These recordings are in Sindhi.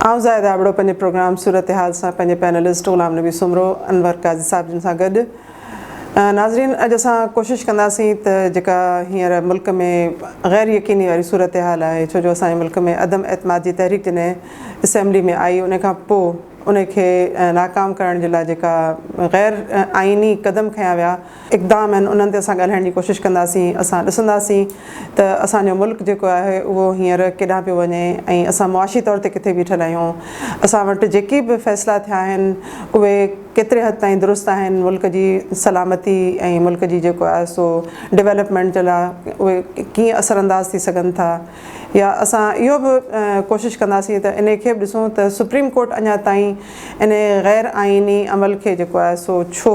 آئون زاهد آبڙو پنهنجي پروگرام صورتحال سان پنهنجي پينلسٽ غلام نبي سومرو، انور قاضي صاحب جن سان گڏ ناظرين اڄ اسان ڪوشش ڪنداسين ته جيڪا هينئر ملڪ ۾ غير يقيني واري صورتحال آهي ڇو جو اسان جي ملڪ ۾ عدم اعتماد جي تحريڪ جڏهن اسيمبلي ۾ آئي ان کان پو ان کي ناڪام ڪرڻ جي لاء جيڪا غير آئيني قدم کنيا ويا اقدام آهن انهن تي اسان ڳالهائڻ جي ڪوشش ڪنداسين اسان ڏسنداسين ته اسان جو ملڪ جيڪو آهي اهو هينئر ڪيڏانهن پيو وڃي ۽ اسان معاشي طور تي ڪٿي بيٺل آهيون اسان وٽ جيڪي به فيصلا ٿيا آهن اهي ڪيتري حد تائين درست آهن ملڪ جي سلامتي ۽ ملڪ جي جيڪو آهي سو ڊولپمينٽ جي لاء اهي ڪيئن اثرانداز ٿي سگهن ٿا يا اسان اهو به ڪوشش ڪنداسين ته انهي کي به ڏسون ته سپريم ڪورٽ اڃا تائين انهي غير آئيني عمل کي جيڪو آهي سو ڇو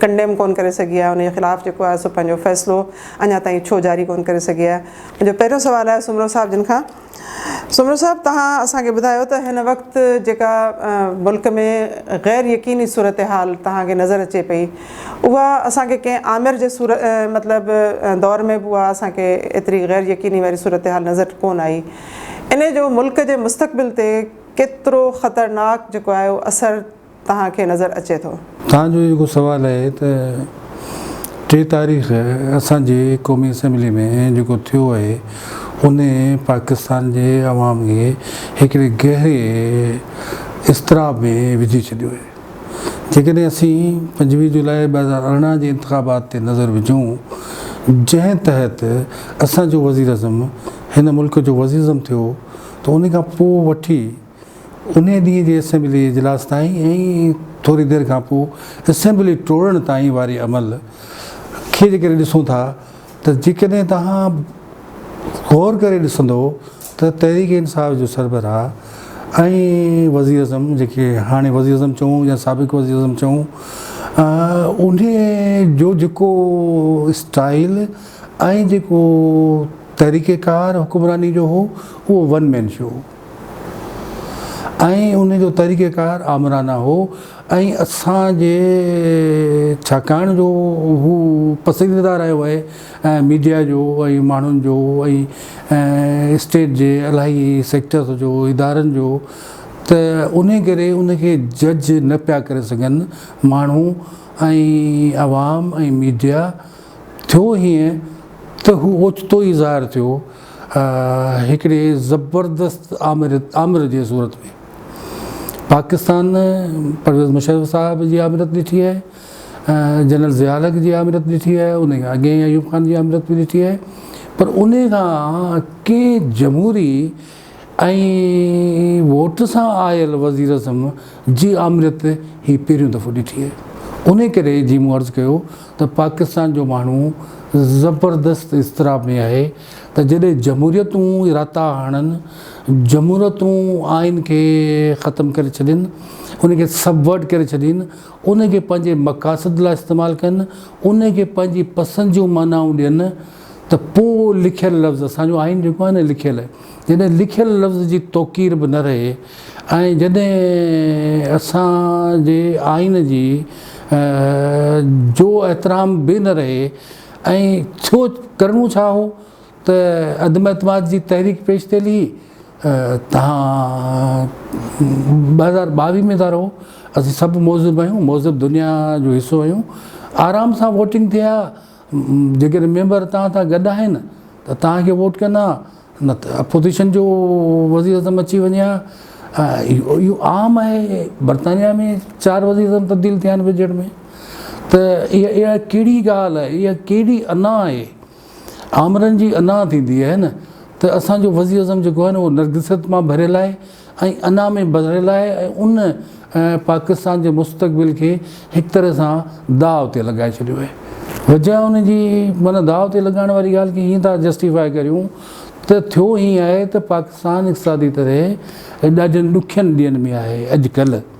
ڪنڊيم ڪون ڪري سگهي آهي انهي خلاف جيڪو آهي سو پنهنجو فيصلو اڃا تائين ڇو جاري ڪون ڪري سگهي آهي منهنجو پهريون سوال آهي سومرو صاحب جن کان سومرو صاحب توهان اسان کي ٻڌايو ته هن وقت جيڪا ملڪ ۾ غير يقيني صورتحال توهان کي نظر اچي پئي اها اسان کي ڪنهن آمر جي صورت مطلب دور ۾ به اها اسان کي ايتري غير يقيني واري صورتحال نظر ڪونه آئي. انهي جو ملڪ جي مستقبل تي ڪيترو خطرناڪ جيڪو آهي اهو اثر توهان کي نظر اچي ٿو. توهان جو جيڪو سوال آهي ته ٽي تاريخ اسان جي قومي اسيمبلي ۾ جيڪو ٿيو آهي انهي پاڪستان جي عوام کي هڪڙي گهري اضطراب ۾ وجهي ڇڏيو آهي. جيڪڏهن اسين پنجويهه جولاء ٻه هزار ارڙهن جي انتخابات تي نظر وجهون جنهن تحت اسان جو وزيراعظم هن ملڪ جو وزيراعظم ٿيو ته ان کان پوء وٺي انهي ڏينهن جي اسيمبلي اجلاس تائين ۽ ٿوري دير کان پوء اسيمبلي ٽوڙڻ تائين واري عمل کي جيڪڏهن ڏسون ٿا ته جيڪڏهن توهان غور ڪري ڏسندو ته تحريڪ انصاف جو سربراهه ۽ وزيراعظم جيڪي هاڻي وزيراعظم چئون يا سابق وزيراعظم چئون انهي جو جيڪو اسٽائيل ۽ جيڪو طريقيڪار حڪمراني جو هو اهو ون مين شو هو. ۽ ان جو طريقه ڪار آمرانه هو ۽ اسان جي ڇاڪاڻ جو هو پسنديده رهيو آهي ميڊيا جو ۽ ماڻهن جو ۽ اسٽيٽ جي الاهي سيڪٽرس جو ادارن جو ته انهي ڪري ان کي جج نه پيا ڪري سگهن ماڻهو ۽ عوام ۽ ميڊيا ٿيو هيئن ته هو اوچتو ئي ظاهر ٿيو هڪڙي زبردست آمريت جي صورت ۾ پاڪستان پرويز مشرف صاحب جي آمريت ڏٺي آهي جنرل ضياء الحق جي آمريت ڏٺي آهي ان کان اڳي ايوب خان جي آمريت به ڏٺي آهي پر ان کان ڪنهن جمهوري ۽ ووٽ سان آيل وزير اعظم جي آمريت هي پهريون دفعو ڏٺي آهي ان ڪري جي مون عرض ڪيو ته پاڪستان جو ماڻهو زبردست اضطراب ۾ آهي ته جڏهن جمهوريتون راتا هڻن، جمهوريتون آئين کي ختم ڪري ڇڏين، ان کي سبورٽ ڪري ڇڏين، ان کي پنهنجي مقاصد لاء استعمال ڪن، ان کي پنهنجي پسند جون معنائون ڏين، ته پوء اهو لکيل لفظ، اسان جو آئين جيڪو آهي نه لکيل، جڏهن لکيل لفظ جي توقير به نه رهي ۽ جڏهن اسان جي آئين جي جو احترام به نه رهي ۽ ٿيو ڪرڻو ڇا هو ته عدم اعتماد جي تحريڪ پيش ٿيل هئي تهان ٻه هزار ٻاويهه ۾ ٿا رهو اسين سڀ مهذب آهيون مهذب دنيا جو حصو آهيون آرام سان ووٽنگ ٿئي ها جيڪڏهن ميمبر توهان سان گڏ آهن ته توهان کي ووٽ ڪندا نه ته اپوزيشن جو وزير اعظم اچي وڃي ها اهو عام آهي برطانيا ۾ چار وزير اعظم تبديل ٿيا آهن وجهڙ ۾ ته اها اها ڪهڙي ڳالهه آهي اها ڪهڙي انا آهي آمرن جي انا ٿيندي آهي نه ته اسانجو وزير اعظم جيڪو آهي نه اهو نرگسيت مان ڀريل آهي ۽ انا ۾ بدليل آهي ۽ ان پاڪستان جي مستقبل کي هڪ طرح سان داء تي لڳائي ڇڏيو آهي وجهه ان جي معنيٰ داء تي لڳائڻ واري ڳالهه کي ائين ٿا جسٽيفاء ڪريون ته ٿيو ائين آهي ته پاڪستان اقتصادي طرح ڏاڍين ڏکين ڏينهن ۾ آهي اڄ ڪلهه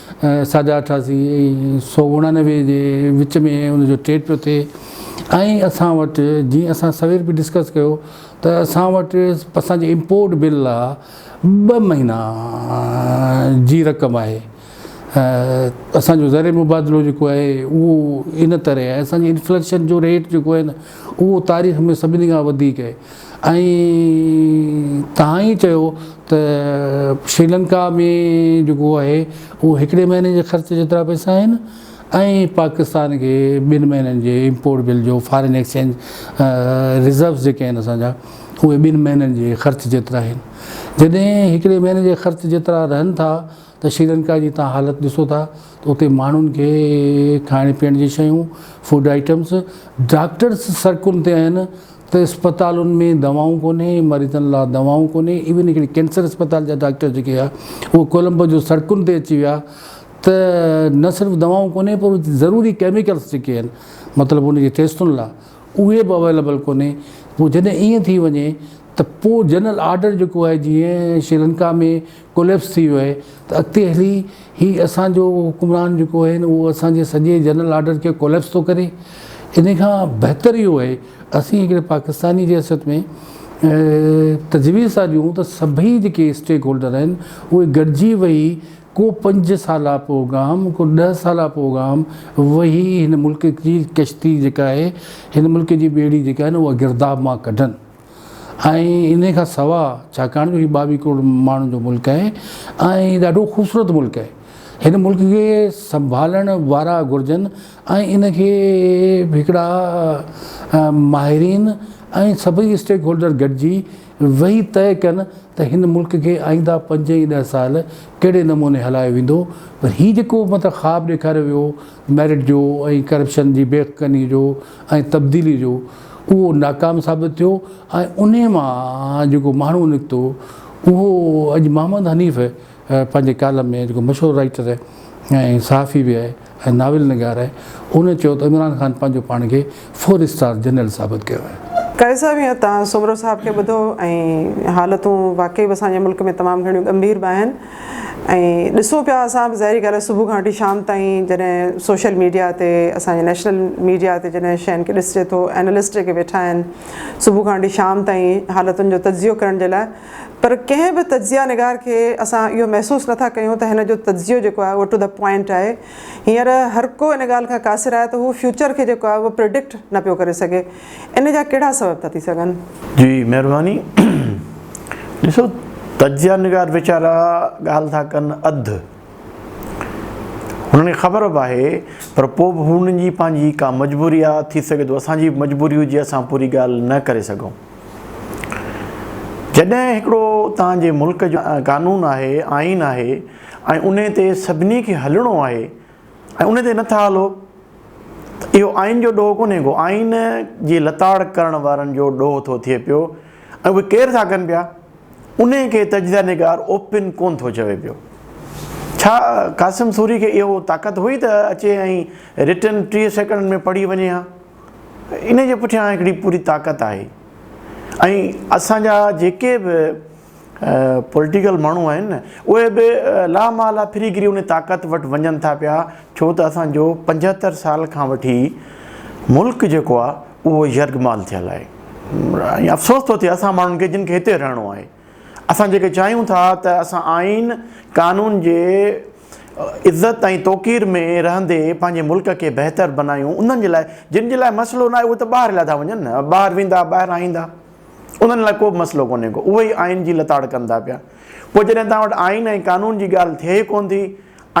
ساڍا اٺاسي سؤ اڻانوي جي وچ ۾ ان جو ٽيٽ پيو ٿئي ۽ اسان وٽ جي اسان سوير به ڊسڪس ڪيو ته اسان وٽ اسان جي امپورٽ بل لا ٻه مهينا جي رقم آهي اسان جو زر مبادلو جيڪو آهي اهو ان طرح آهي اسان جي انفليشن جو ريٽ جيڪو آهي نه اهو تاريخ ۾ سڀني کان وڌيڪ آهي ائين تهان ئي چيو ته شريلنڪا ۾ جيڪو آهي اهو هڪڙي مهيني جي خرچ جيترا پئسا آهن ۽ پاڪستان کي ٻن مهينن جي امپورٽ بل جو فارين ايڪسچينج ريزروز جيڪي آهن اسان جا اهي ٻن مهينن جي خرچ جيترا آهن جڏهن هڪڙي مهيني جي خرچ جيترا رهن ٿا ته شريلنڪا جي تهان حالت ڏسو ٿا ته اتي ماڻهن کي کائڻ پيئڻ جي شيون فوڊ آئيٽمز ڊاڪٽرز سڙڪن تي آهن ته اسپتالن ۾ دوائون ڪونهي، مريضن لا دوائون ڪونهي، ايون هڪڙي ڪينسر اسپتال جا ڊاڪٽر جيڪي هيا اهي ڪولمبو جون سڙڪن تي اچي ويا ته نه صرف دوائون ڪونهي پر ضروري ڪيميڪلس جيڪي آهن مطلب ان جي ٽيسٽن لا اهي به اويليبل ڪونهي پوء جڏهن ائين ٿي وڃي ته پوء جنرل آرڊر جيڪو آهي جيئن شريلنڪا ۾ ڪوليپس ٿي ويو آهي ته اڳتي هلي هي اسان جو حڪمران جيڪو آهي نه اهو اسان جي سڄي جنرل آرڊر کي ڪوليپس ٿو ڪري انهي کان بهتر اهو آهي اسين هڪڙي پاڪستاني جي حيثيت ۾ تجويز ٿا ڏيون ته سڀئي جيڪي اسٽيڪ هولڊر آهن اهي گڏجي ويهي ڪو پنج سالا پروگرام ڪو ڏهه سالا پروگرام ويهي هن ملڪ جي ڪشتي جيڪا آهي هن ملڪ جي ٻيڙي جيڪا آهي نه اها گرداب مان ڪڍن. ۽ انهي کان سوا ڇاڪاڻ جو هي ٻاويهه ڪروڙ ماڻهن جو ملڪ آهي ۽ ڏاڍو خوبصورت ملڪ آهي هن ملڪ کي سنڀالڻ وارا گهرجن ۽ ان کي هڪڙا ماهرين ۽ سڀئي اسٽيڪ هولڊر گڏجي ويهي طئي ڪن ته هن ملڪ کي آئينده پنج ۽ ڏهه سال ڪهڙي نموني هلايو ويندو پر هي جيڪو مطلب خواب ڏيکاريو ويو ميرٽ جو ۽ ڪرپشن جي بيخ ڪني جو ۽ تبديلي جو اهو ناڪام ثابت ٿيو ۽ انهي مان جيڪو ماڻهو نڪتو اهو اڄ محمد حنيف پنهنجي ڪالم ۾ جيڪو مشهور رائيٽر ۽ صحافي به آهي ۽ ناول نگار آهي ان چيو ته عمران خان پنهنجو پاڻ کي فور اسٽار جنرل ثابت ڪيو آهي. قاري صاحب هيئن توهان سومرو صاحب کي ٻڌو ۽ حالتون واقعي به اسان جي ملڪ ۾ تمام گهڻيون ڳنڀير به آهن. ۽ ڏسو پيا اسان به ظاهري ڳالهه صبح کان وٺي شام تائين جڏهن سوشل ميڊيا تي اسان جي نيشنل ميڊيا تي جڏهن شين کي ڏسجي ٿو اينالسٽ جيڪي ويٺا آهن صبح کان وٺي شام تائين حالتن جو تجزيو ڪرڻ جي لاء پر ڪنهن به تجزيا نگار کي اسان اهو محسوس نٿا ڪيون ته هن جو تجزيو جيڪو آهي اهو ٽو دا پوائنٽ آهي هينئر هر ڪو ان ڳالهه کان قاصر آهي ته هو فيوچر کي جيڪو آهي اهو پريڊڪٽ نه پيو ڪري سگهي ان جا ڪهڙا سبب ٿا ٿي سگهن؟ جي مهرباني. ڏسو تجزيه نگار ويچارا ڳالهه ٿا ڪن اڌ هنن کي خبر به آهي پر پوء به هنن جي پنهنجي ڪا مجبوري آهي ٿي سگهي ٿو اسان جي به مجبوري هجي اسان پوري ڳالهه نه ڪري سگهون جڏهن هڪڙو توهان جي ملڪ جو قانون آهي آئين آهي ۽ انهي تي سڀني کي هلڻو آهي ۽ ان تي نه ٿا هلو ته اهو آئين جو ڏوهه ڪونهي ڪو آئين جي لتاڙ ڪرڻ وارن جو ڏوهه ٿو ٿئي پيو ۽ اهي ڪير ٿا ڪن پيا انهي کي تجزيه نگار اوپن ڪونه ٿو چوي پيو. ڇا قاسم سوري کي اهو طاقت هئي ته اچي ۽ رٽن ٽيهه سيڪنڊن ۾ پڙهي وڃي ها؟ انهي جي پٺيان هڪڙي پوري طاقت آهي ۽ اسان جا جيڪي به پوليٽيڪل ماڻهو آهن نه اهي به لا محاله ڦري گهري انهي طاقت وٽ وڃن ٿا پيا ڇو ته اسان جو پنجهتر سال کان وٺي ملڪ جيڪو آهي اهو يرغمال ٿيل آهي ۽ افسوس ٿو ٿئي اسان ماڻهن کي جن کي هتي رهڻو آهي اسان جيڪي چاهيون ٿا ته اسان آئين قانون جي عزت ۽ توقير ۾ رهندي پنهنجي ملڪ کي بهتر بنايون انهن جي لاء جن جي لاء مسئلو نه آهي اهي ته ٻاهر هليا ٿا وڃن نه ٻاهر ويندا ٻاهران ايندا انهن لاء ڪو به مسئلو ڪونهي ڪو، اهي ئي آئين جي لتاڙ ڪن ٿا پيا. پوء جڏهن توهان وٽ آئين ۽ قانون جي ڳالهه ٿئي ئي ڪونه ٿي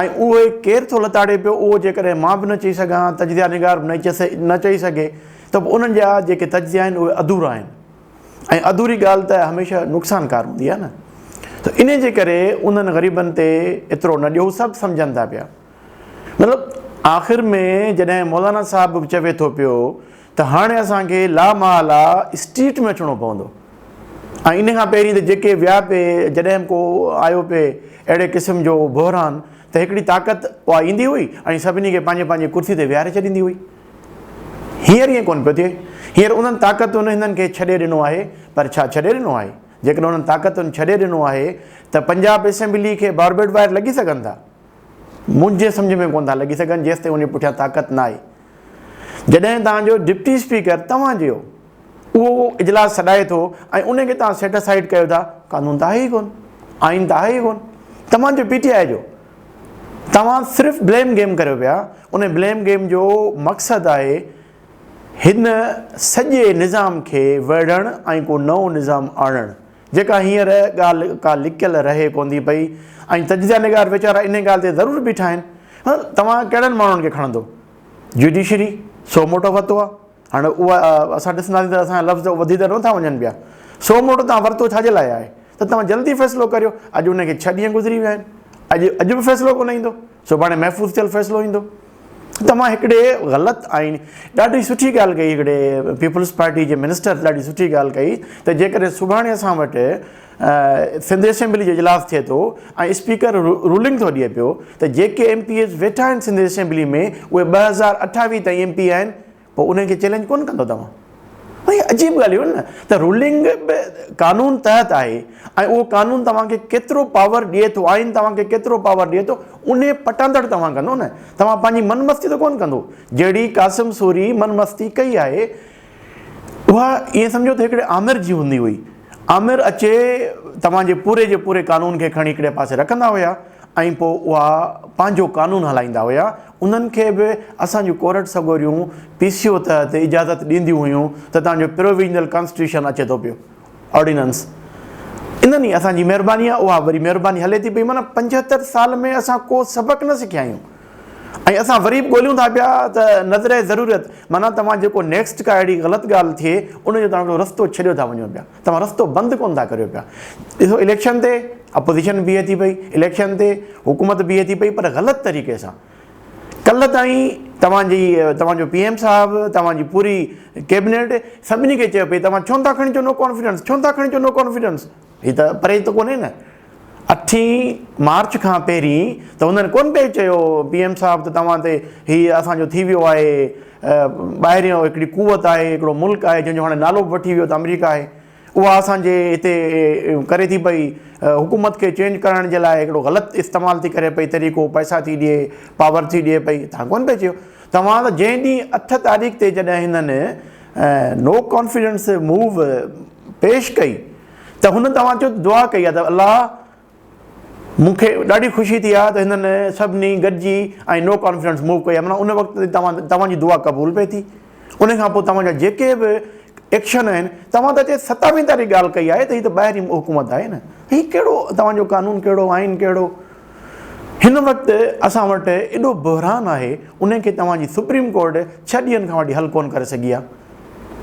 ۽ اهو ئي ڪير ٿو لتاڙي پيو، اهو جيڪڏهن مان به نه چئي سگهان ها، تجزيه نگار به نه چئي سگهي ته پوء انهن جا جيڪي تجزيا آهن اهي اڌورا آهن ۽ اڌوري ڳالهه ته هميشه نقصان ڪار هوندي آهي نه. ته انهي جي ڪري انهن غريبن تي ايترو نه ڏيو، سڀ سمجهن ٿا پيا. مطلب آخر ۾ جڏهن مولانا صاحب به چوي ٿو پيو ته هاڻي اسان کي لامحاله اسٽريٽ ۾ اچڻو پوندو ۽ ان کان پهرين ته جيڪي ويا پي جڏهن به ڪو آيو پي اهڙي قسم جو بحران ته هڪڙي طاقت اها ايندي هئي ۽ سڀني کي پنهنجي پنهنجي ڪرسي تي ويهاري ڇڏيندي هئي هينئر ائين ڪونه پيو ٿئي هينئر انهن طاقتن هنن کي ڇڏي ڏنو آهي پر ڇا ڇڏي ڏنو آهي جيڪڏهن انهن طاقتن ڇڏي ڏنو آهي ته پنجاب اسيمبلي کي باربيڊ وائر لڳي سگهن ٿا منهنجي سمجهه ۾ ڪونه ٿا لڳي سگهن جيستائين انهي پٺيان طاقت نه آئي. جڏهن توهان جو ڊپٽي اسپيڪر توهان جيو اهو اجلاس سڏائي ٿو ۽ انهي کي توهان سيٽ اسائيڊ ڪيو ٿا قانون ته آهي ئي ڪونه آئين ته آهي ئي ڪونه توهان جو پي ٽي آئي جو توهان صرف بليم گيم ڪريو پيا انهي بليم گيم جو مقصد آهي هن سڄي نظام کي ويڙهڻ ۽ ڪو نئون نظام آڻڻ. جيڪا هينئر ڳالهه ڪا لڪيل رهي ڪونٿي پئي ۽ تجزيه نگار ويچارا انهيء ڳالهه تي ضرور بيٺا آهن. هن توهان ڪهڙن ماڻهن کي کڻندو؟ جيوڊيشري سو موٽو ورتو آهي. هاڻي اها اسان ڏسنداسين ته اسان جا لفظ وڌي ته نٿا وڃن پيا. سو موٽو توهان ورتو ڇا جي لاء آهي؟ ته توهان جلدي فيصلو ڪريو. اڄ ان کي ڇهه ڏينهن گذري ويا آهن. اڄ اڄ به فيصلو ڪونه ايندو. سڀاڻي محفوظ ٿيل فيصلو ايندو. توهان هڪڙي غلط آئين ڏاڍي سٺي ڳالهه ڪئي هڪڙي پيپلز پارٽي جي منسٽر ڏاڍي سٺي ڳالهه ڪئي ته جيڪڏهن سڀاڻي اسان وٽ سنڌ اسيمبلي جو اجلاس ٿئي ٿو ۽ اسپيڪر رولنگ ٿو ڏئي پيو ته جيڪي ايم پي ايز ويٺا آهن سنڌ اسيمبلي ۾ اهي ٻه هزار اٺاويهه تائين ايم پي آهن پوء انهن کي چئلينج ڪونه ڪندو توهان؟ هي عجيب ڳالهه هيون نه ته رولنگ به قانون تحت آهي ۽ اهو قانون توهان کي ڪيترو پاور ڏئي ٿو آئين توهان کي ڪيترو پاور ڏئي ٿو انهي پٽاندڙ توهان ڪندو نه توهان پنهنجي من مستي ته ڪونه ڪندو جهڙي قاسم سوري من مستي ڪئي آهي اها ائين سمجهو ته هڪڙي آمر جي هوندي هئي آمر اچي توهان جي پوري جي پوري قانون کي کڻي هڪڙي پاسي رکندا هيا ۽ پوء اها پنهنجو قانون هلائيندا هيا، انهن کي به اسان جون ڪورٽ سڳوريون پي سي او تحت اجازت ڏينديون هيون ته توهان جو پروويزنل ڪانسٽيٽيوشن اچي ٿو پيو آرڊيننس انهن ئي اسان جي مهرباني آهي اها وري مهرباني هلي ٿي پئي معنيٰ پنجهتر سال ۾ اسان ڪو سبق نه سکيا آهيون ۽ اسان وري به ڳوليون ٿا پيا ته نظرئه ضرورت معنيٰ توهان جيڪو نيڪسٽ ڪا اهڙي غلط ڳالهه ٿئي ان جو توهان هڪڙو رستو ڇڏيو ٿا وڃو پيا. توهان رستو بند ڪونه ٿا ڪريو پيا. ڏسو اليڪشن تي اپوزيشن بيهي ٿي پئي، اليڪشن تي حڪومت بيهي ٿي پئي پر غلط طريقي سان. ڪلهه تائين توهان جي توهان جو پي ايم صاحب، توهان جي پوري ڪيبنيٽ سڀني کي چيو پئي توهان ڇو نه ٿا کڻي اچو نو ڪانفيڊنس، ڇو نه ٿا کڻي اچو نو ڪانفيڊنس. هي ته پرهيز ته ڪونهي نه. اٺين مارچ کان پهرين ته هنن ڪونه پئي چيو پي ايم صاحب ته توهان تي هي اسان جو ٿي ويو آهي ٻاهريون هڪڙي قوت آهي هڪڙو ملڪ آهي جنهن جو هاڻي نالو به وٺي ويو ته آمريڪا آهي اها اسان جي هتي ڪري ٿي پئي حڪومت کي چينج ڪرائڻ جي لاء هڪڙو غلط استعمال ٿي ڪري پئي طريقو پئسا ٿي ڏي پاور ٿي ڏي پئي تان ڪونه پئي چيو توهان ته جنهن ڏينهن اٺ تاريخ تي جڏهن هنن نو ڪانفيڊنس موو پيش ڪئي ته هن توهان جو دعا ڪئي آهي ته الله مون کي ڏاڍي خوشي ٿي آهي ته هنن سڀني گڏجي ۽ نو ڪانفرنس موو ڪئي آهي معنيٰ ان وقت تي توهان توهان جي دعا قبول پئي ٿي ان کان پوء توهان جا جيڪي به ايڪشن آهن توهان ته هتي ستاويهين تاريخ ڳالهه ڪئي آهي ته هي ته ٻاهرين حڪومت آهي نه هي ڪهڙو توهان جو قانون ڪهڙو آئين ڪهڙو هن وقت اسان وٽ ايڏو بحران آهي ان کي توهان جي سپريم ڪورٽ ڇهه ڏينهن کان وٺي حل ڪونه ڪري سگهي آهي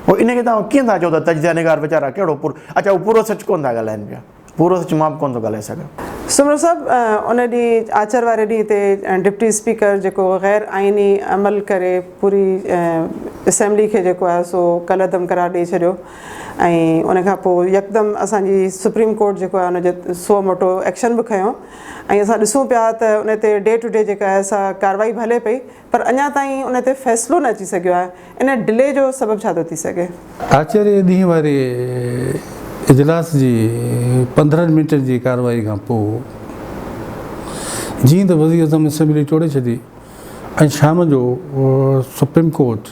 پوء ان کي توهان ڪيئن ٿا چئو ته تجزيه نگار ويچارا ڪهڙو پورو اچا هو پورو سچ ڪونه ٿا ڳالهائين پيا. پورو سچ مان به ڪونه ٿو ڳالهائي سگهان. سومرو صاحب ان ڏينهن آچر واري ڏينهن تي ڊپٽي اسپيڪر جيڪو غير آئيني عمل ڪري پوري اسيمبلي کي جيڪو آهي سو ڪالعدم قرار ڏئي ڇڏيو ۽ ان کان پوء يڪدم اسان جي سپريم ڪورٽ جيڪو آهي ان جو سو موٽو ايڪشن به کنيو ۽ اسان ڏسون پيا ته ان تي ڊي ٽو ڊي جيڪا آهي سا ڪارروائي به هلي پئي پر اڃا تائين ان تي فيصلو نه اچي سگهيو آهي، ان ڊلي جو سبب ڇا ٿو ٿي سگهي؟ آچري ڏينهن واري اجلاس جي پندرهن منٽن جي ڪارروائي کان پوء جيئن ته وزيراعظم اسيمبلي ٽوڙي ڇڏي ۽ شام جو سپريم ڪورٽ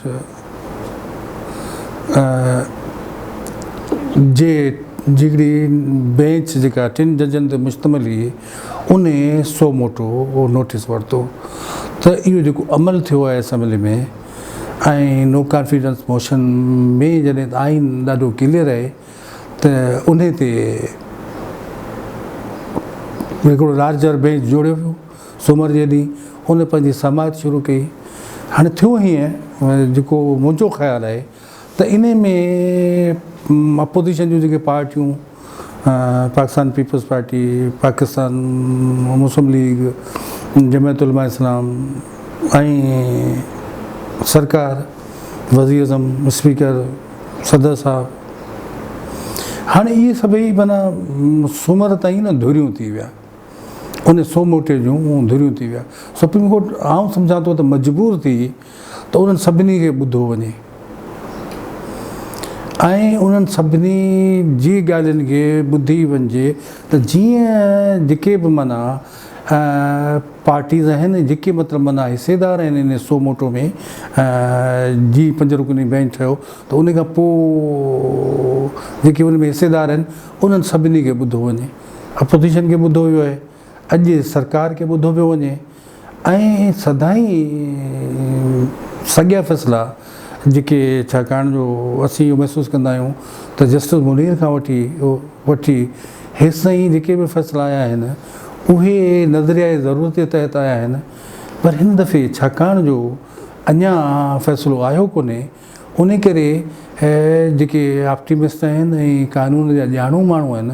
جي ڊگهي بينچ جيڪا ٽن ججن تي مشتمل هئي، انهي سو موٽو نوٽيس ورتو ته اهو جيڪو عمل ٿيو آهي اسيمبلي ۾ ۽ نو ڪانفيڊنس موشن ۾ جڏهن ته آئين ڏاڍو ڪليئر آهي ته انهي تي هڪڙو لارجر بينچ جوڙيو ويو سومر جي ڏينهن ان پنهنجي سماعت شروع ڪئي هاڻي ٿيو هيئن جيڪو منهنجو خيال آهي ته انهي ۾ اپوزيشن جون جيڪي پارٽيون Pakistan Peoples Party, Pakistan Muslim League, Jamiat Ulema Islam ۽ سرڪار، وزيراعظم، اسپيڪر، صدر صاحب هاڻي اهي سڀئي معنيٰ سومر تائين نه ڌريون ٿي ويا انهي سوموٽي جون ڌريون ٿي ويا سپريم ڪورٽ آئون سمجهان ٿو ته مجبور ٿي ته انهن سڀني کي ٻڌو وڃي ۽ انهن سڀني جي ڳالهين کي ٻڌي وڃجي ته جيئن جيڪي به معنيٰ پارٽيز آهن ۽ جيڪي مطلب معنيٰ حصيدار آهن انهي سو موٽو ۾ جي پنج رڪني بئنچ ٺهيو ته انهي کان پوء جيڪي ان ۾ حصيدار آهن انهن سڀني کي ٻڌو وڃي اپوزيشن کي ٻڌو ويو آهي. اڄ سرڪار کي ٻڌو پيو وڃي ۽ سدائين ساڳيا فيصلا جيڪي ڇاڪاڻ جو اسين اهو محسوس ڪندا آهيون ته جسٽس منير کان وٺي وٺي هيستائين جيڪي به فيصلا آيا آهن اهي نظريائي ضرورت جي تحت آيا آهن پر هن دفعي ڇاڪاڻ جو اڃا فيصلو آيو ڪونهي انهي ڪري جيڪي آپٽيمسٽ آهن ۽ قانون جا ڄاڻو ماڻهو آهن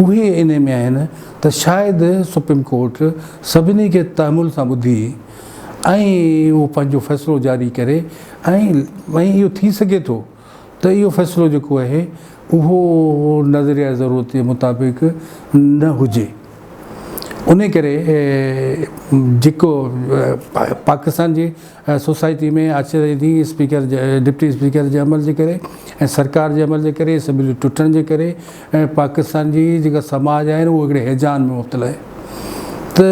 اهي انهي ۾ آهن ته شايد سپريم ڪورٽ سڀني کي تحمل سان ٻڌي ۽ اهو پنهنجو فيصلو جاري ڪري ۽ اهو ٿي سگهي ٿو ته اهو فيصلو جيڪو آهي اهو نظريائي ضرورت جي مطابق نه هجي انهي ڪري جيڪو پاڪستان جي سوسائٽي ۾ آچر ايندي اسپيڪر ڊپٽي اسپيڪر جي عمل جي ڪري ۽ سرڪار جي عمل جي ڪري اسيمبلي ٽٽڻ جي ڪري ۽ پاڪستان جي جيڪا سماج آهي اهو هڪڙي هيجان ۾ مبتلا آهي ته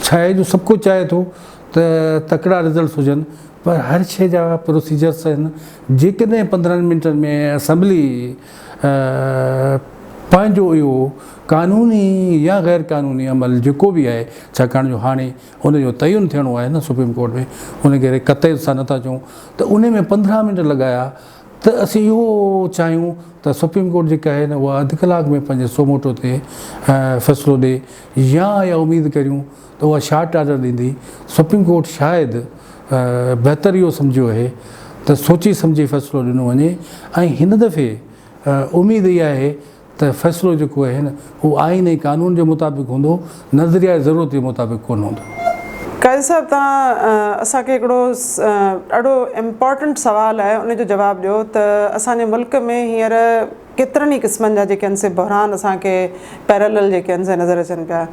ڇاهي جو سڀ ڪو چاهي ٿو ته تڪڙا رزلٽس هجن پر هر شيء جا پروسيجرس آهن جيڪڏهن پندرهن منٽن ۾ اسيمبلي پنهنجو اهو قانوني يا غير قانوني عمل جيڪو به آهي ڇاڪاڻ جو هاڻي ان جو تعين ٿيڻو آهي نه سپريم ڪورٽ ۾ ان ڪري قطعي سان نٿا چئون ته ان ۾ پندرهن منٽ لڳايا ته اسين اهو چاهيون ته سپريم ڪورٽ جيڪا آهي نه اها اڌ ڪلاڪ ۾ پنهنجي سوموٽو تي فيصلو ڏي يا اها اميد ڪريون ته اها شارٽ آرڊر ڏيندي سپريم ڪورٽ شايد بهتر اهو سمجهيو اهي ته سوچي سمجهي فيصلو ڏنو وڃي ۽ هن دفعي اميد اها آهي ته فيصلو جيڪو آهي نه هو آئين ۽ قانون جي مطابق هوندو، نظريائي ضرورت جي مطابق ڪونه هوندو. قائد صاحب توهان اسان کي هڪڙو ڏاڍو امپارٽنٽ سوال آهي ان جو جواب ڏيو ته اسان جي ملڪ ۾ هينئر ڪيترن ئي قسمن جا جيڪي سي بحران اسان کي پيرالل جيڪي سي نظر اچن پيا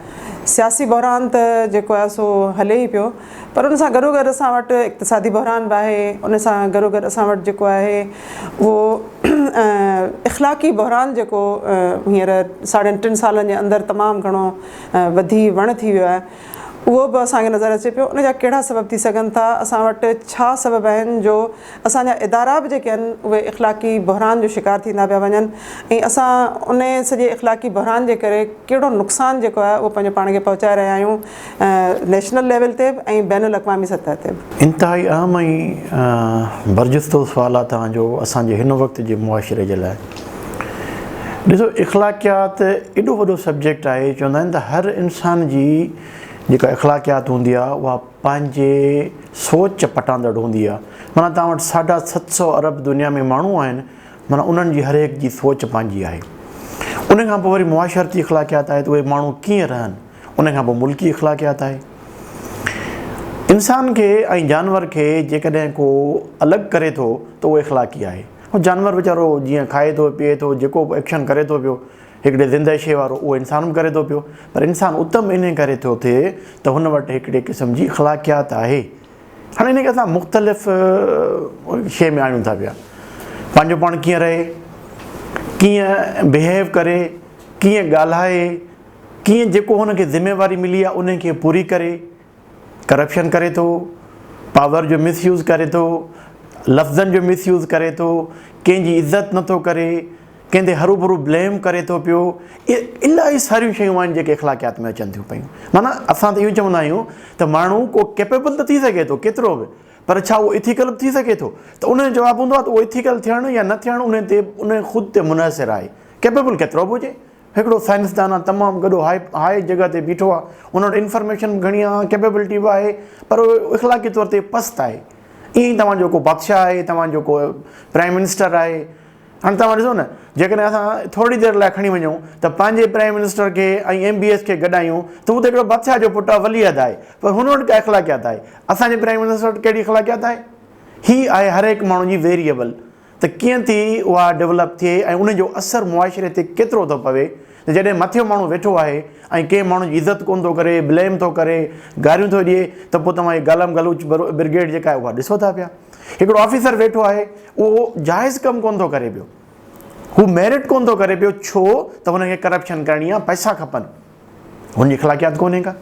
سياسي بحران ته جيڪو آهي سو هلي ئي پيو پر ان سان گڏوگڏ اسان وٽ اقتصادي بحران به آهي، ان سان گڏوگڏ اسان وٽ جيڪو آهي اهو اخلاقي بحران جيڪو هينئر ساڙهن ٽن سالن جي اندر تمام گهڻو وڌي وڻ ٿي ويو آهي اهو به اسان کي نظر اچي پيو ان جا ڪهڙا سبب ٿي سگهن ٿا اسان وٽ ڇا سبب آهن جو اسان جا ادارا به جيڪي آهن اهي اخلاقي بحران جو شڪار ٿيندا پيا وڃن ۽ اسان ان سڄي اخلاقي بحران جي ڪري ڪهڙو نقصان جيڪو آهي اهو پنهنجو پاڻ کي پهچائي رهيا آهيون نيشنل ليول تي به ۽ بين الاقوامي سطح تي به. انتهائي اهم ۽ برجستو سوال آهي توهان جو اسان جي هن وقت جي معاشري جي لاء. ڏسو اخلاقيات ايڏو وڏو سبجيڪٽ آهي چوندا آهن ته هر انسان جي جيڪا اخلاقيات هوندي آهي اها پنهنجي سوچ پٽاندڙ هوندي آهي معنيٰ توهان وٽ ساڍا ست سؤ ارب دنيا ۾ ماڻهو آهن معنيٰ انهن جي هر هڪ جي سوچ پنهنجي آهي ان کان پوء وري معاشرتي اخلاقيات آهي ته اهي ماڻهو ڪيئن رهن ان کان پوء ملڪي اخلاقيات آهي. انسان کي ۽ جانور کي جيڪڏهن ڪو الڳ ڪري ٿو ته اهو اخلاقي آهي. هو جانور ويچارو جيئن کائي ٿو، پيئي ٿو، جيڪو به ايڪشن ڪري ٿو پيو، هڪڙي زندهه شيء وارو اهو انسان به ڪري ٿو پيو. پر انسان اتم انهي ڪري ٿو ٿئي ته هن وٽ هڪڙي قسم جي اخلاقيات آهي. هاڻي ان کي اسان مختلف شيء ۾ آڻيون ٿا پيا. پنهنجو پاڻ ڪيئن رهي، ڪيئن بهيو ڪري، ڪيئن ڳالهائي، ڪيئن جيڪو هن کي ذميواري ملي آهي انهي کي پوري ڪري، ڪرپشن ڪري ٿو، پاور جو مس يوز ڪري ٿو، لفظن جو مس يوز ڪري ٿو، ڪنهن جي عزت نه ٿو ڪري، ڪنهن تي هروڀرو بليم ڪري ٿو پيو، الاهي ساريون شيون آهن جيڪي اخلاقيات ۾ اچن ٿيون پيون. معنيٰ اسان ته اهو چوندا آهيون ته ماڻهو ڪو ڪيپيبل ته ٿي سگهي ٿو ڪيترو به پر ڇا اهو ايٿيڪل به ٿي سگهي ٿو؟ ته انهي جو جواب هوندو آهي ته اهو ايٿيڪل ٿيڻ يا نه ٿيڻ انهي تي انهي خود تي منحصر آهي ڪيپيبل ڪيترو به هجي. هڪڙو سائنسدان آ تمام گڏو هاء هاء جڳهه تي بيٺو آ ان وٽ انفارميشن به گهڻي آ ڪيپيبلٽي به آهي پر هو اخلاقي طور تي پست آهي ائين ئي توهان جو ڪو بادشاهه آهي توهان جو ڪو پرائم منسٽر آهي هاڻي توهان ڏسو نه جيڪڏهن اسان ٿورڙي دير لاء کڻي وڃون ته پنهنجي پرائم منسٽر کي ۽ ايم بي ايس کي گڏايون ته هو ته هڪڙو بادشاهه جو پٽ آ ولي عهد آهي پر هن وٽ ڪا اخلاقيات آهي اسان جي پرائم منسٽر وٽ ڪهڙي اخلاقيات آهي هي آهي هر هڪ ماڻهو جي ويريبل ته ڪيئن ٿي اها ڊولپ ٿئي ۽ ان جو اثر معاشري تي ڪيترو ٿو پوي ته جڏهن مٿيون ماڻهو ويٺو آهي ۽ ڪنهن ماڻهو جي عزت ڪونه ٿو ڪري بليم ٿو ڪري گاريون ٿو ڏئي ته پوء توهان هي گالم گلوچ برگيڊ جيڪا آهي اها ڏسو ٿا پيا هڪڙو آفيسر ويٺو آهي اهو جائز ڪم ڪونه ٿو ڪري پيو هو ميرٽ ڪونه ٿو ڪري پيو ڇو ته هن کي ڪرپشن ڪرڻي آهي پئسا کپن. هن جي اخلاقيات ڪونهي ڪا.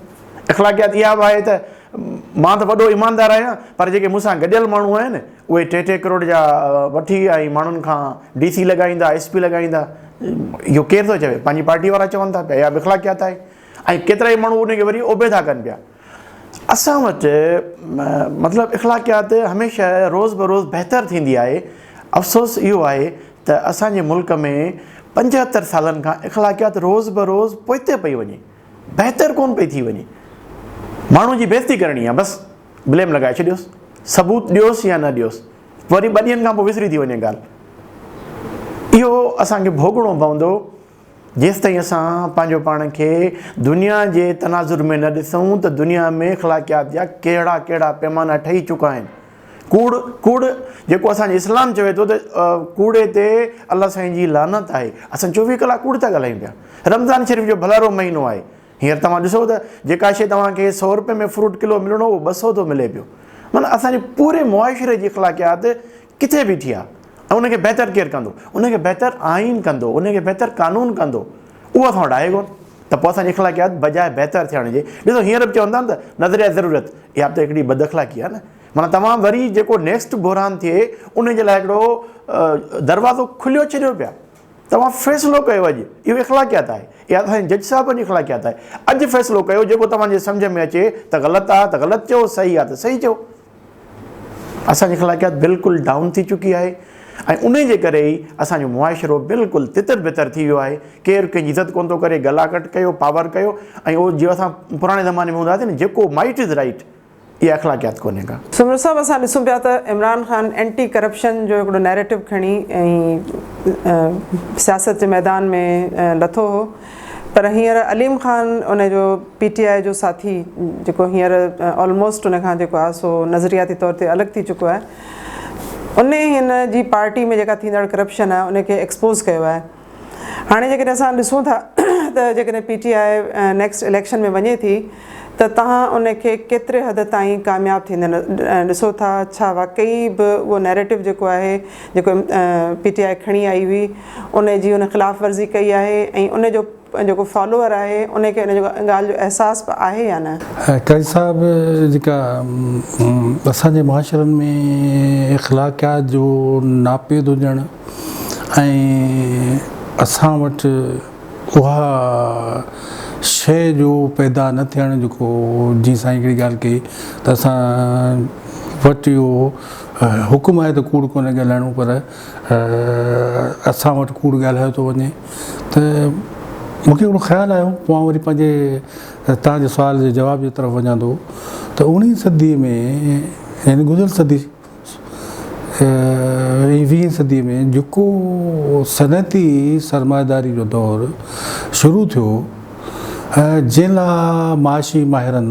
اخلاقيات اها به آهي ته مان ته وڏو ايماندار آهيان پر جيڪي مون سان گڏيل ماڻهو آهن اهي ٽي ٽي ڪروڙ جا وٺي ۽ ماڻهن کان ڊي سي لڳائيندا ايس پي لڳائيندا اهو ڪير ٿو چوي پنهنجي پارٽي وارا چون ٿا پيا اها به اخلاقيات آهي ۽ ڪيترائي ماڻهو ان کي وري اوبيدا ڪن پيا. اسان وٽ مطلب اخلاقيات هميشه روز بروز بهتر ٿيندي آهي، افسوس اهو آهي ته اسان جي ملڪ ۾ پنجهتر سالن کان اخلاقيات روز بروز پوئتي پئي وڃي، بهتر ڪونه پئي ٿي وڃي. ماڻهو جي بيزتي ڪرڻي آهي بس بليم لڳائي ڇڏيوس، ثبوت ڏيوس يا نه ڏيوس وري ٻه ڏينهن کان پوء وسري ٿي وڃي ڳالهه. اهو اسان کي ڀوڳڻو پوندو. جيستائين اسان پنهنجو پاڻ کي دنيا جي تناظر ۾ نه ڏسون ته دنيا ۾ اخلاقيات جا ڪهڙا ڪهڙا پيمانا ٺهي چڪا آهن. ڪوڙ، ڪوڙ جيڪو اسان جو اسلام چوي ٿو ته ڪوڙي تي الله سائين جي لعنت آهي. اسان چوويهه ڪلاڪ ڪوڙ ٿا ڳالهايون پيا. رمضان شريف جو ڀلارو مهينو آهي. هينئر توهان ڏسو ته جيڪا شيء توهان کي سؤ روپين ۾ فروٽ ڪلو ملڻو هو اهو ٻه سؤ ٿو ملي پيو. معنيٰ اسان جي پوري معاشري جي اخلاقيات ڪٿي بيٺي آهي ۽ ان کي بهتر ڪير ڪندو؟ ان کي بهتر آئين ڪندو، ان کي بهتر قانون ڪندو، اهو اسان وٽ آهي ڪونه ته پوء اسان جي اخلاقيات بجاء بهتر ٿيڻ جي ڏسو هينئر به چون ٿا نه ته نظريه ضرورت اها به ته هڪڙي بد اخلاقي آهي نه معنيٰ توهان وري جيڪو نيڪسٽ بحران ٿئي ان جي لاء هڪڙو دروازو کليو ڇڏيو پيا توهان فيصلو ڪيو اڄ اهو اخلاقيات آهي اها اسان جي جج صاحبن جي اخلاقيات آهي اڄ فيصلو ڪيو جيڪو توهان جي سمجهه ۾ اچي ته غلط آهي ته غلط چئو صحيح آهي ته صحيح چئو. اسان جي اخلاقيات بلڪل ڊائون ٿي چڪي آهي ۽ انهي جي ڪري ئي اسان جو معاشرو بلڪل تتر بتر ٿي ويو آهي ڪير ڪنهن جي عزت ڪونه ٿو ڪري گلا ڪٽ ڪيو پاور ڪيو ۽ اهو جيئن اسان پراڻي زماني ۾ هوندا هئاسين نه جيڪو مائٽ از رائٽ اها اخلاقيات ڪونهي ڪا. سمير صاحب اسان ڏسون پيا ته عمران خان اينٽي ڪرپشن جو هڪڙو نيريٽو کڻي ۽ سياست جي ميدان ۾ لٿو هو پر هينئر عليم خان ان جو پي ٽي آء جو ساٿي جيڪو هينئر آلموسٽ ان کان جيڪو آهي سو نظرياتي طور تي الڳ ٿي چڪو آهي ان هن جي پارٽي ۾ جيڪا ٿيندڙ ڪرپشن آهي ان کي ايڪسپوز ڪيو آهي هاڻي جيڪڏهن اسان ڏسون ٿا ته جيڪڏهن P T I next election ۾ وڃي ٿي ته توهان ان کي ڪيتري حد تائين ڪامياب ٿيندي ڏسو ٿا؟ ڇا واقعي به اهو نيريٽو جيڪو آهي جيڪو پي ٽي آء کڻي آئي هئي ان جي هن خلاف ورزي ڪئي آهي ۽ ان جو جيڪو فالوور آهي ان کي ان جي ڳالهه جو احساس به آهي يا نه؟ قاضي صاحب جيڪا اسان جي معاشرن ۾ اخلاقيات جو ناپيد هجڻ ۽ اسان وٽ اها شيء جو پيدا نه ٿيڻ جيڪو جي سائين هڪڙي ڳالهه ڪئي ته اسان وٽ اهو حڪم آهي ته ڪوڙ ڪونه ڳالهائڻو پر اسان وٽ ڪوڙ ڳالهايو ٿو وڃي ته مون کي هڪڙو خيال آيو پوء آئون وري پنهنجي توهان جي سوال جي جواب جي طرف وڃان ٿو ته اوڻيهين صدي ۾ يعني گذريل صدي ۽ ويهين صدي ۾ جيڪو صنعتي سرمائيداري جو دور شروع ٿيو ۽ جنهن لا معاشي ماهرن،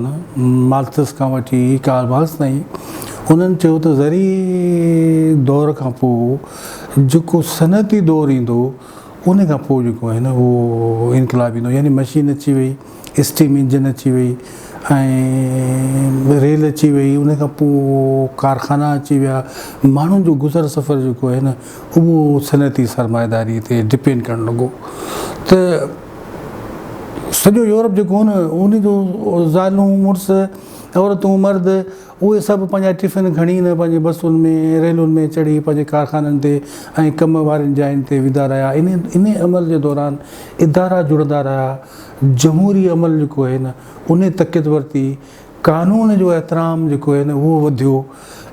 مارڪسس کان وٺي ڪارل مارڪس تائين، انهن چيو ته زرعي دور کان پوء جيڪو صنعتي دور ايندو، انهي کان پوء جيڪو آهي نه اهو انقلاب ايندو يعني مشين اچي وئي، اسٽيم انجن اچي وئي ۽ ريل اچي وئي ان کان پوء ڪارخانا اچي ويا ماڻهن جو گذر سفر جيڪو آهي نه اهو صنعتي سرمائيداري تي ڊپينڊ ڪرڻ لڳو ته سڄو يورپ جيڪو هو نه ان جو زالون مڙس عورتون مرد اهي سڀ پنهنجا ٽفن کڻي نه پنهنجي بسن ۾ ريلن ۾ چڙهي پنهنجي ڪارخانن تي ۽ ڪم وارين جاين تي ويندا رهيا ان ان عمل جي دوران ادارا جڙندا رهيا جمهوري عمل جيڪو آهي نه انهي تقيت ورتي، قانون جو احترام جيڪو آهي نه اهو وڌيو،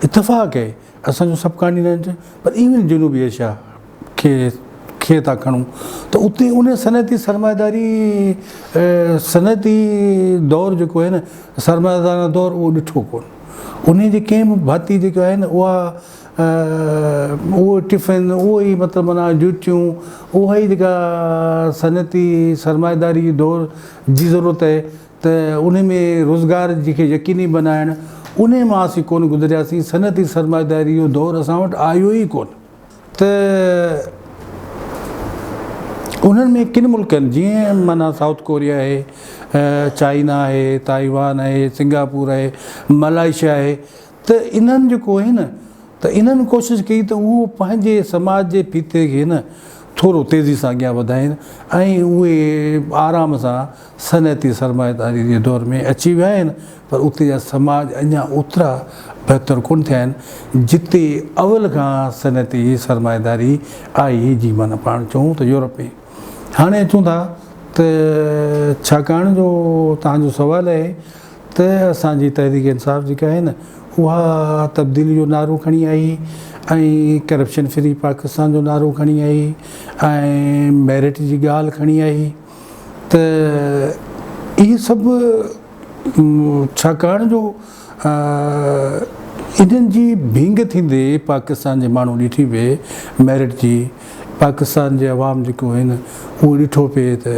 اتفاق اهي اسان جو سب ڪانٽينينٽ پر ايون جنوبي ايشيا کي کي ٿا کڻون ته اتي انهي صنعتي سرمائيداري صنعتي دور جيڪو آهي نه سرمائيدارانه دور اهو ڏٺو ڪون انهي جي ڪنهن به ڀاتي جيڪا آهي نه اها اهو ٽفن، اهو ئي مطلب معنيٰ جوتيون، اها ئي جيڪا صنعتي سرمائيداري دور جي ضرورت آهي ته انهي ۾ روزگار جي کي يقيني بنائڻ، انهي مان اسين ڪونه گذرياسين، صنعتي سرمائيداري جو دور اسان وٽ آيو ئي ڪونه. ته انهن ۾ ڪن ملڪن جيئن معنيٰ سائوٿ ڪوريا آهي، چائنا آهي، تائيوان آهي، سنگاپور آهي، ملائيشيا آهي، ته انهن جيڪو هي نه ته انهن ڪوشش ڪئي ته اهو پنهنجي سماج جي ڦيٿي کي نه ٿورو تيزي سان اڳيان وڌائين ۽ اهي آرام سان صنعتي سرمائيداري جي دور ۾ اچي ويا آهن پر اتي جا سماج اڃا اوترا بهتر ڪونه ٿيا آهن جتي اول کان صنعتي سرمائيداري آئي جي معنيٰ پاڻ چئون ته يورپ ۾ هاڻي اچون ٿا ته ڇاڪاڻ جو توهان جو سوال اهي ته اسان جي تحريڪ انصاف جيڪا آهي نه اها تبديلي جو نعرو کڻي آئي ۽ ڪرپشن فري پاڪستان جو نعرو کڻي آئي ۽ ميرٽ جي ڳالهه کڻي آئي ته اهي سڀ ڇاڪاڻ جو انهن جي ڀينگ ٿيندي پاڪستان جي ماڻهو ڏٺي پئي ميرٽ جي پاڪستان جي عوام جيڪو آهن اهو ڏٺو پئي ته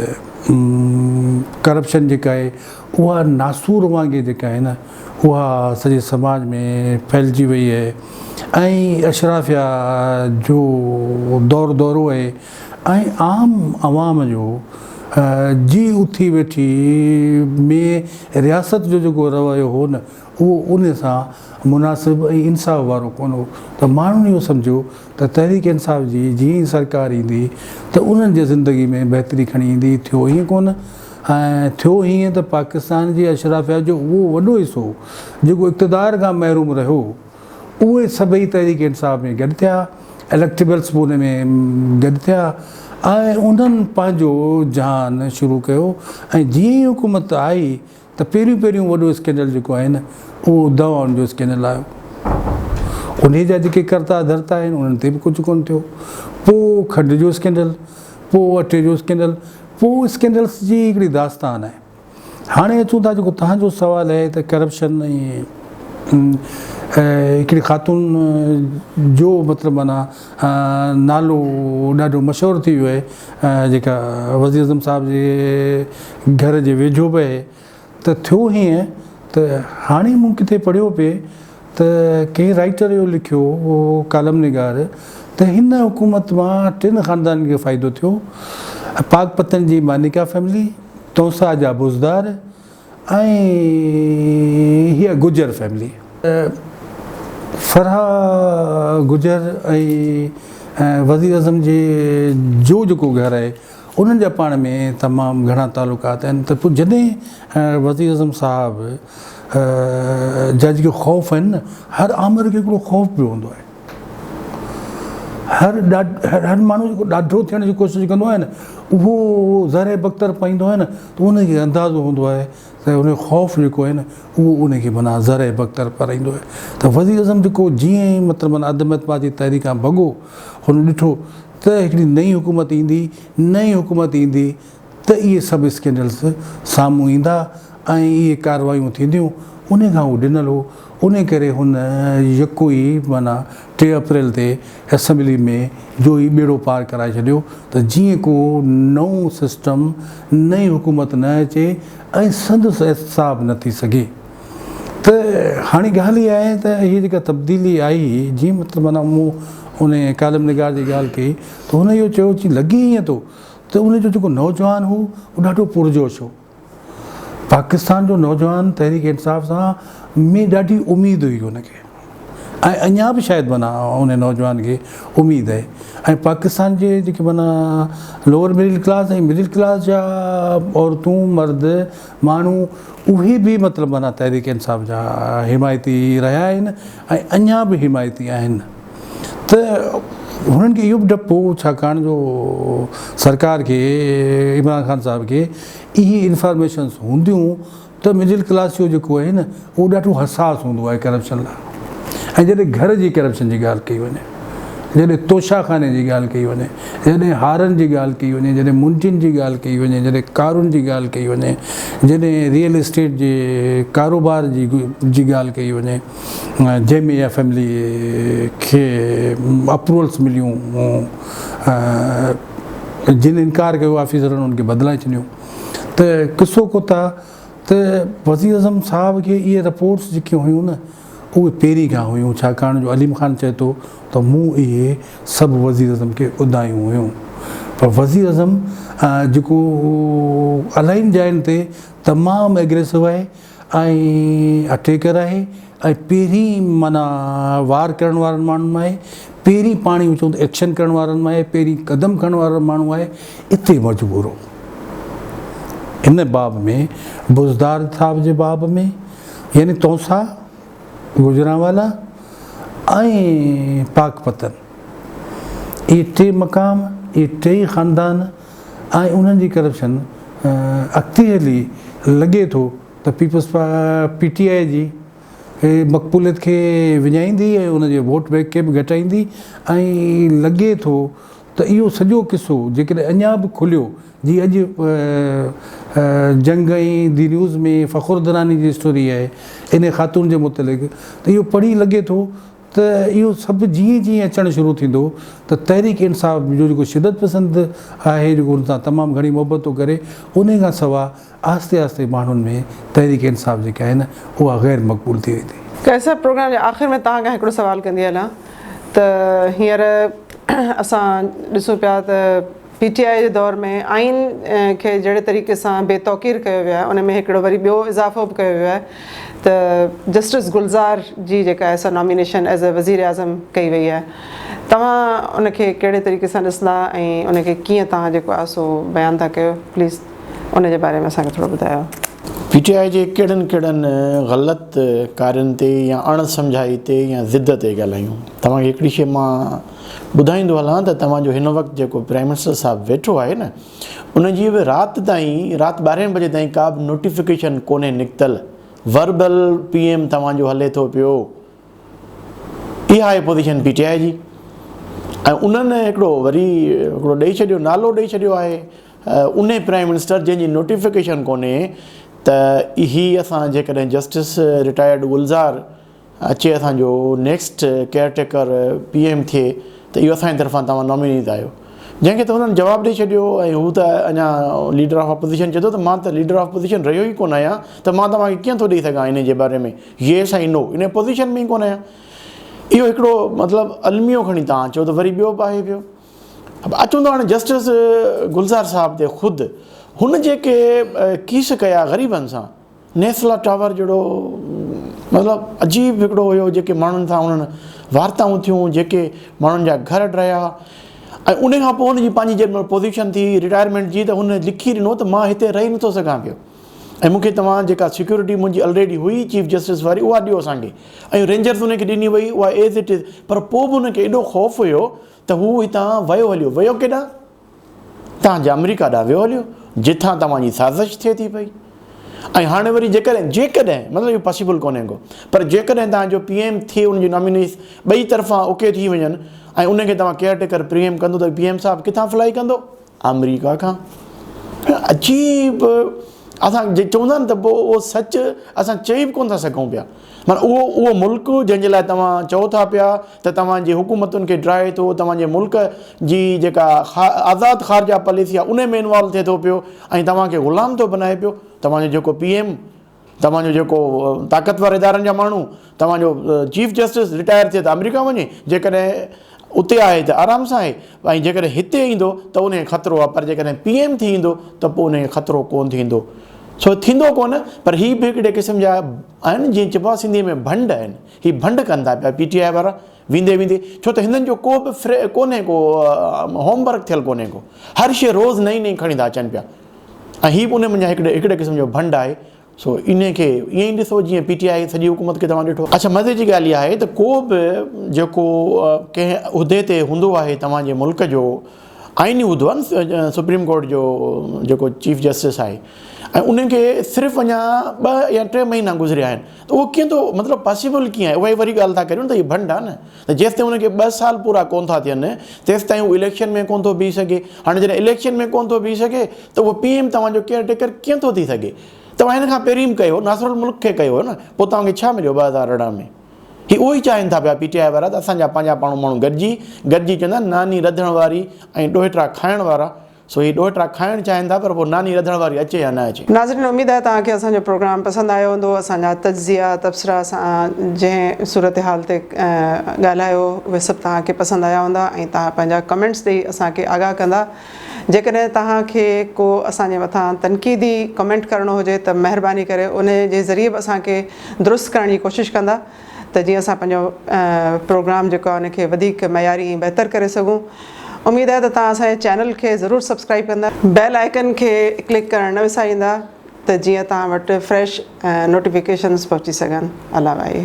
ڪرپشن جيڪا آهي اها ناسور وانگي جيڪا آهي نه اها سڄي سماج ۾ ڦهلجي وئي آهي ۽ اشرافيا جو دور دورو آهي ۽ عام عوام جو جي اٿي ويٺي ۾ رياست جو جيڪو رويو هو نه اهو ان سان مناسب ۽ انصاف وارو ڪونه هو ته ماڻهن اهو سمجهيو ته تحريڪ انصاف جي جيئن ئي سرڪار ايندي ته انهن جي زندگي ۾ بهتري کڻي ايندي ٿيو ائين ڪونه ۽ ٿيو ائين ته پاڪستان جي اشرافيا جو اهو وڏو حصو جيڪو اقتدار کان محروم رهيو اهي سڀئي تحريڪ انصاف ۾ گڏ ٿيا اليڪٽيبلس به ان ۾ گڏ ٿيا ۽ انهن پنهنجو جهان شروع ڪيو ۽ جيئن ئي حڪومت آئي ته پهريون پهريون وڏو اسڪينڊل جيڪو آهي نه اهو دواؤن جو اسڪينڊل آيو انهي جا جيڪي ڪرتا ڌرتا آهن انهن تي به ڪجهه ڪونه ٿيو پوء کنڊ جو اسڪينڊل پوء اٽي جو اسڪينڊل پوء اسڪينڊلس جي هڪڙي داستان آهي. هاڻي اچون ٿا جيڪو توهان جو سوال آهي ته ڪرپشن ۽ هڪڙي خاتون جو مطلب معنيٰ نالو ڏاڍو مشهور ٿي ويو آهي جيڪا وزيراعظم صاحب جي گهر جي ويجهو به ته ٿيو هيئن ته هاڻي مون ڪٿي پڙهيو پئي ته ڪنهن رائيٽر اهو لکيو هو ڪالم نگار ته هن حڪومت مان ٽن خاندانن کي فائدو ٿيو پاڪ پتن جي مانيڪا فئملي، تونسه جا بوزدار ۽ هيء گجر فئملي. فرحه گجر ۽ وزيراعظم جي جو جيڪو گهر آهي. انهن جا پاڻ ۾ تمام گهڻا تعلقات آهن ته پوء جڏهن وزير اعظم صاحب جا جيڪي خوف آهن نه هر آمر کي هڪڙو خوف به هوندو آهي هر هر ماڻهو جيڪو ڏاڍو ٿيڻ جي ڪوشش ڪندو آهي نه اهو زهره بختر پائيندو آهي نه ته ان کي اندازو هوندو آهي ته ان جو خوف جيڪو آهي نه اهو ان کي معنيٰ زهره بختر پارائيندو آهي ته وزير اعظم جيڪو جيئن ئي مطلب معنيٰ عدم اعتماد جي تحريڪ کان ڀڳو هن ڏٺو ته هڪڙي نئين حڪومت ايندي، نئين حڪومت ايندي ته اهي سڀ اسڪينڊلز سامهون ايندا ۽ اهي ڪارروايون ٿينديون، انهي کان هو ڊنل هو، انهي ڪري هن يڪو ئي معنيٰ ٽي اپريل تي اسيمبلي ۾ جو ئي ٻيڙو پار ڪرائي ڇڏيو ته جيئن ڪو نئون سسٽم، نئين حڪومت نه اچي ۽ سندس احتساب نه ٿي سگهي. ته هاڻي ڳالهه اها آهي ته هي جيڪا تبديلي آئي جيئن مطلب معنيٰ مون ان ڪالم نگار جي ڳالهه ڪئي ته هن اهو چيو چي لڳي ائين ٿو ته ان جو جيڪو نوجوان هو اهو ڏاڍو پرجوش هو پاڪستان جو نوجوان تحريڪ انصاف سان ۾ ڏاڍي اميد هئي ان کي ۽ اڃا به شايد معنيٰ ان نوجوان کي اميد آهي ۽ پاڪستان جي جيڪي معنيٰ lower middle class ۽ middle class جا عورتون مرد ماڻهو اهي به مطلب معنيٰ تحريڪ انصاف جا حمايتي رهيا آهن ۽ اڃا به حمايتي آهن ته هنن کي اهو به ڊپ هو ڇاڪاڻ جو سرڪار کي عمران خان صاحب کي اهي انفارميشنس هونديون ته مڊل ڪلاس جو جيڪو آهي نه اهو ڏاڍو حساس هوندو آهي ڪرپشن لاء ۽ جڏهن گهر جي ڪرپشن جي ڳالهه ڪئي وڃي، جڏهن توشا خاني جي ڳالهه ڪئي وڃي، جڏهن هارن جي ڳالهه ڪئي وڃي، جڏهن منڊين جي ڳالهه ڪئي وڃي، جڏهن ڪارن جي ڳالهه ڪئي وڃي، جڏهن ريئل اسٽيٽ جي ڪاروبار جي ڳالهه ڪئي وڃي جنهن ۾ اها فيملي کي اپروولس مليون ۽ جن انڪار ڪيو آفيسرن ان کي بدلائي ڇڏيو ته قصو ڪوتا ته وزيراعظم صاحب کي اهي رپورٽس جيڪي هيون نه اهي پيري کان هيون ڇاڪاڻ جو عليم خان چئي ٿو ته مون اهي سڀ وزيراعظم کي ٻڌايون هيون پر وزيراعظم جيڪو الاهين جاين تي تمام اگريسو آهي ۽ اٽيڪر آهي ۽ پهرين معنيٰ وار ڪرڻ وارن ماڻهن مان آهي، پهرين پاڻي هو چوندو ايڪشن ڪرڻ وارن مان آهي، پهرين قدم کڻڻ وارو ماڻهو آهي، اتي مجبورو هن باب ۾ بزدار صاحب جي باب ۾ يعني تونسا، گجرانوالا ۽ پاڪ پتن اهي ٽي مقام اهي ٽيئي خاندان ۽ انهن جي ڪرپشن اڳتي هلي لڳي ٿو ته پيپلز پا پي ٽي آء جي مقبوليت کي وڃائيندي ۽ ان جي ووٽ بئنڪ کي به گهٽائيندي ۽ لڳي ٿو ته اهو سڄو قصو جيڪڏهن اڃا به کليو جي اڄ جنگ ۽ دي نيوز ۾ فخر دراني جي اسٽوري آهي انهي خاتون جي متعلق ته اهو پڙهي لڳي ٿو ته اهو سڀ جيئن جيئن اچڻ شروع ٿيندو ته تحريڪ انصاف جو جيڪو شدت پسند آهي جيڪو ان سان تمام گهڻي محبت ٿو ڪري انهي کان سوا آهستي آهستي ماڻهن ۾ تحريڪ انصاف جيڪي آهي نه اها غير مقبول ٿي ويندي. قيصر پروگرام جي آخر ۾ توهان کان هڪڙو سوال ڪندي هلان ته هينئر اسان ڏسون پيا ته پي ٽي آء جي دور ۾ آئين کي جهڙي طريقي سان بي توقير ڪيو ويو آهي ان ۾ هڪڙو وري ٻيو اضافو به ڪيو ويو آهي ته جسٽس گلزار جي جيڪا سا نامينيشن ايز اي وزيراعظم ڪئي وئي آهي توهان ان کي ڪهڙي طريقي سان ڏسندا ۽ ان کي ڪيئن توهان جيڪو آهي سو بيان ٿا ڪيو پليز ان جي باري ۾ اسان کي ٿورو ٻڌايو. پي ٽي آء جي ڪهڙن ڪهڙن غلط ڪارين تي يا اڻ سمجهائي تي يا ضد تي ڳالهايون توهان کي هڪڙي شيء مان ٻڌائيندو هلان ته توهان جو هن وقت جيڪو پرائيم منسٽر صاحب ويٺو آهي نه ان جي به رات تائين رات ٻارهين بجي تائين ڪا به نوٽيفڪيشن ڪونهي نڪتل وربل پي ايم توهان جو هلي ٿو پيو اها آهي پوزيشن پي ٽي آء جي ۽ انهن هڪڙو وري هڪڙو ڏئي ڇڏيو نالو ڏئي ڇڏيو آهي ان پرائيم منسٽر جنهن جي نوٽيفڪيشن ڪونهي ته هي اسان جيڪڏهن جسٽس رٽائرڊ گلزار اچي اسان جو next caretaker P M ٿئي ته اهو اسان جي طرفان توهان نامينيٽ آهيو جنهن کي ته هنن جواب ڏئي ڇڏيو ۽ هو ته اڃا ليڊر آف اپوزيشن چئي ٿو ته مان ته ليڊر آف اپوزيشن رهيو ئي ڪونه آهيان ته مان توهان کي ڪيئن ٿو ڏئي سگهان ان جي باري ۾ ييس ۽ نو ان پوزيشن ۾ ئي ڪونه آهيان اهو هڪڙو مطلب الميو کڻي توهان چئو ته وري ٻيو به آهي پيو اچون ٿا هاڻي جسٽس گلزار صاحب تي خود هن جيڪي ڪيس ڪيا غريبن سان نيسلا ٽاور جهڙو مطلب عجيب هڪڙو هيو جيڪي ماڻهن سان انهن وارتائون ٿيون جيڪي ماڻهن جا گهر ڊهيا ۽ ان کان پوء هن جي پنهنجي جنهن مهل پوزيشن ٿي رٽائرمينٽ جي ته هن لکي ڏنو ته مان هتي رهي نٿو سگهان پيو ۽ مون کي توهان جيڪا سيڪيورٽي منهنجي الريڊي هئي چيف جسٽس واري اها ڏيو اسان کي ۽ رينجرز ان کي ڏني وئي اها ايز اٽ از پر پوء به ان کي ايڏو خوف هيو ته هو هتان ويو هليو ويو ڪيڏانهن تهان جي آمريڪا ڏانهن ويو هليو جتان توهان جي سازش ٿئي ٿي پئي ۽ هاڻي وري جيڪڏهن جيڪڏهن مطلب اهو پاسيبل ڪونهي ڪو پر جيڪڏهن تهان جو پي ايم ٿئي ان جي نامينيز ٻئي طرفان اوڪي ٿي وڃن ۽ ان کي توهان ڪيئر ٽيڪر پري ايم ڪندو ته پي ايم صاحب ڪٿان فلائي ڪندو آمريڪا کان عجيب اسان جي چوندا آهن ته پوء اهو سچ اسان چئي به ڪونه ٿا سگهون پيا معنيٰ اهو اهو ملڪ جنهن جي لاء توهان چئو ٿا پيا ته توهان جي حڪومتن کي ڊاهي ٿو، توهان جي ملڪ جي جيڪا آزاد خارجه پاليسي آهي انهي ۾ انوالو ٿئي ٿو پيو ۽ توهان کي غلام ٿو بنائي پيو، توهان جو جيڪو پي ايم، توهان جو جيڪو طاقتور ادارن جا ماڻهو، توهان جو چيف جسٽس رٽائر ٿئي ته آمريڪا وڃي جيڪڏهن. اتي آهي ته آرام سان آهي ۽ جيڪڏهن هتي ايندو ته ان کي خطرو آهي پر جيڪڏهن پي ايم ٿي ايندو ته پوء ان کي خطرو ڪونه ٿيندو سو ٿيندو ڪونه پر هي به هڪڙي قسم جا آهن جيئن چئبو آهي سنڌي ۾ ڀنڊ آهن هي ڀنڊ ڪن ٿا پيا پي ٽي آء وارا ويندي ويندي ڇو ته هندن جو ڪو به فري ڪونهي ڪو هوم ورڪ ٿيل ڪونهي ڪو هر شيء روز نئي نئي کڻي ٿا اچن پيا ۽ هي به ان منجهان هڪڙي هڪڙي قسم جو ڀنڊ آهي سو انهي کي ائين ئي ڏسو جيئن پي ٽي آء سڄي حڪومت کي توهان ڏٺو. اڇا مزي جي ڳالهه اها آهي ته ڪو به جيڪو ڪنهن عهدي تي هوندو آهي توهان جي ملڪ جو آئيني عهدو آهي نه سپريم ڪورٽ جو جيڪو چيف جسٽس آهي ۽ انهي کي صرف اڃا ٻه يا ٽي مهينا گذريا آهن ته اهو ڪيئن ٿو مطلب پاسيبل ڪيئن آهي اها ئي وري ڳالهه ٿا ڪريون ته هي ڀنڊ آهي نه. ته جيستائين هن کي ٻه سال پورا ڪونه ٿا ٿين تيستائين هو اليڪشن ۾ ڪونه ٿو بيهي سگهي، هاڻي جڏهن اليڪشن ۾ ڪونه ٿو بيهي سگهي ته اهو پي ايم توهان جو ڪيئر ٽيڪر ڪيئن ٿو ٿي سگهي؟ توهان هن کان پهرين به ڪيو ناصر الملڪ کي ڪيو هو نه پوء توهان کي ڇا مليو ٻه هزار ارڙهن ۾؟ هي اهو ئي چاهين ٿا پيا پي ٽي آء وارا ته اسان جا پنهنجا پاڻهون ماڻهو گڏجي گڏجي چوندا ناني رڌڻ واري ۽ ڏوهٽا کائڻ وارا سو هي ڏوهه ٽا کائڻ چاهين ٿا پر پوء ناني رڌڻ واري اچي يا نه اچي. ناظرين اميد آهي توهان کي اسان جو پروگرام پسند آيو هوندو اسان جا تجزيا تبصرا اسان جنهن صورتحال تي ڳالهايو اهي سڀ توهان کي پسند آيا هوندا ۽ توهان پنهنجا ڪمينٽس ڏئي اسان کي آگاهه ڪندا جيڪڏهن توهان کي ڪو اسان جي مٿان تنقيدي ڪمينٽ ڪرڻو هجي ته مهرباني ڪري انهي جي ذريعي به اسان کي درست ڪرڻ جي ڪوشش ڪندا. ته جيئن اسان پنهنجو پروگرام جيڪو آهي ان کي وڌيڪ معياري ۽ بهتر ڪري سگهون اميد آهي ته توهان اسان جي چينل کي ضرور سبسڪرائيب ڪندا بيل آئيڪن کي ڪلڪ ڪرڻ نه وساريندا ته جيئن توهان وٽ فريش نوٽيفڪيشنز پهچي سگهن الاوائي.